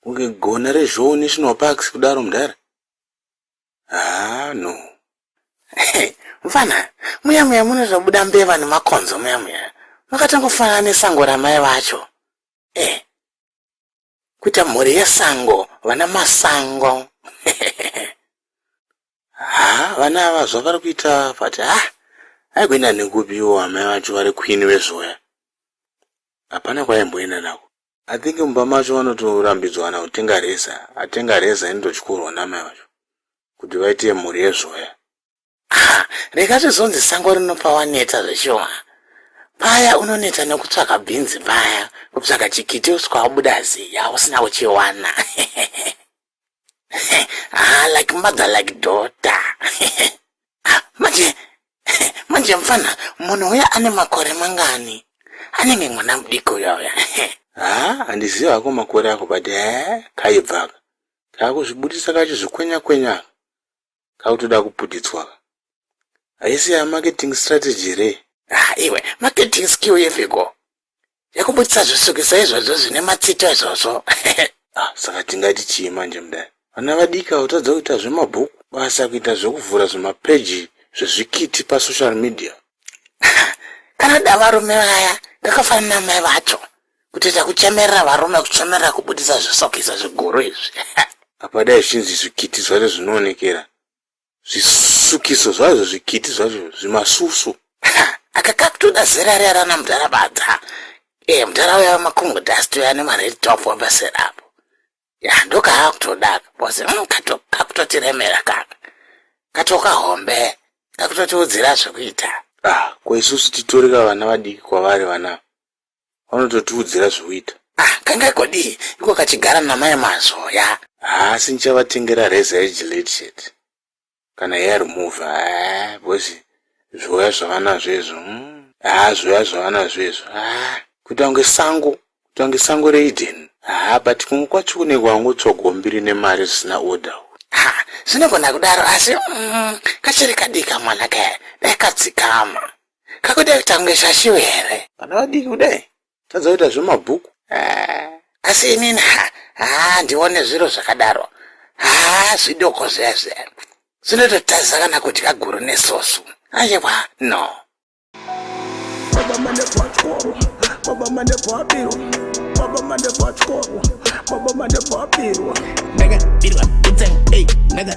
Kunge gona reZhou National Parks kudaro mdhara. Haa no. Mfana, muya muya mune zvabuda mbeva nemakonzo muya muya. Makatangofanana nesango ramai vacho. Eh. Kuita mhuri yesango, vana masango. Haa, vana ava zvavari kuita vati ha. Aigwenda nekupiwo amai vacho vari queen vezvoya. Hapana kwaimboenda nako. I think mumba macho vanotorambidzwana kutenga reza atenga reza inototyorwa namai vacho kuti vaite mhuri yezvoya ah, rega zvizonzi sango rinopa waneta zveshuwa paya unoneta nekutsvaka bhinzi paya kupsaka chikiti usikawabuda ziya usina kuchiwana ah, like mother like daughter ah, manje manje mfana munhu uya ane makore mangani anenge mwana mudiki uya uya ah, handiziva hako makore ako but eh, kaibvaka kakuzvibudisa kachizvikwenya kwenya kakutoda kuputidzwa ka haisi ya marketing strategy here ah iwe marketing skill yeviko yakubudisa zvisukisa izvozvo zvine matsito izvozvo ah saka tingati chii manje mudai vana vadiki vakutadza kuita zvemabhuku basa kuita zvekuvhura zvimapeji zvezvikiti pasocial media kana da varume vaya ngakafanana mai vacho kutoita kuchemerera varume kuchemerera kubudisa zvisokisa zviguru izvi apa dai zvinzi zvikiti zvacho zvinoonekera zvisukiso zvazvo zvikiti zvacho zvimasusu aka kakutoda zera riya rana mudhara badza e eh, mudhara uya wemakungo dust uya nemared top wapasera apo ya ndokaakutoda bcause mm, kakutotiremera kaka katoka hombe kakutotiudzira zvekuita ah, ko isusu titoreka vana vadiki kwavari vana vanototiudzira zvekuita ah kangai kodii iko kachigara namai mazoya haasi ndichavatengera reza yegilate shet kana yaremove ha eh, bcozi zvoya zvavanazvo izvo hmm. ha zvoya zvavanazvo izvo ha ah, kuita kunge sango kuita kunge sango reiden ha ah, but kumwe kwacho kunenge wangotsvaga wambiri nemari zvisina order ha zvinogona kudaro asi mm, kachiri kadika mwana kaya dai kadzikama kakuda kutange shashiwe here vana vadiki kudai tazoita zvemabhuku eh, asi inini haa ndione zviro zvakadaro haa zvidoko zviyazviya zvinototadza kana kudya guru nesosu ayewa no baba mane pachikoro baba mane pabirwa baba mane pachikoro baba mane pabirwa ndakabirwa kutsanga ei ndaka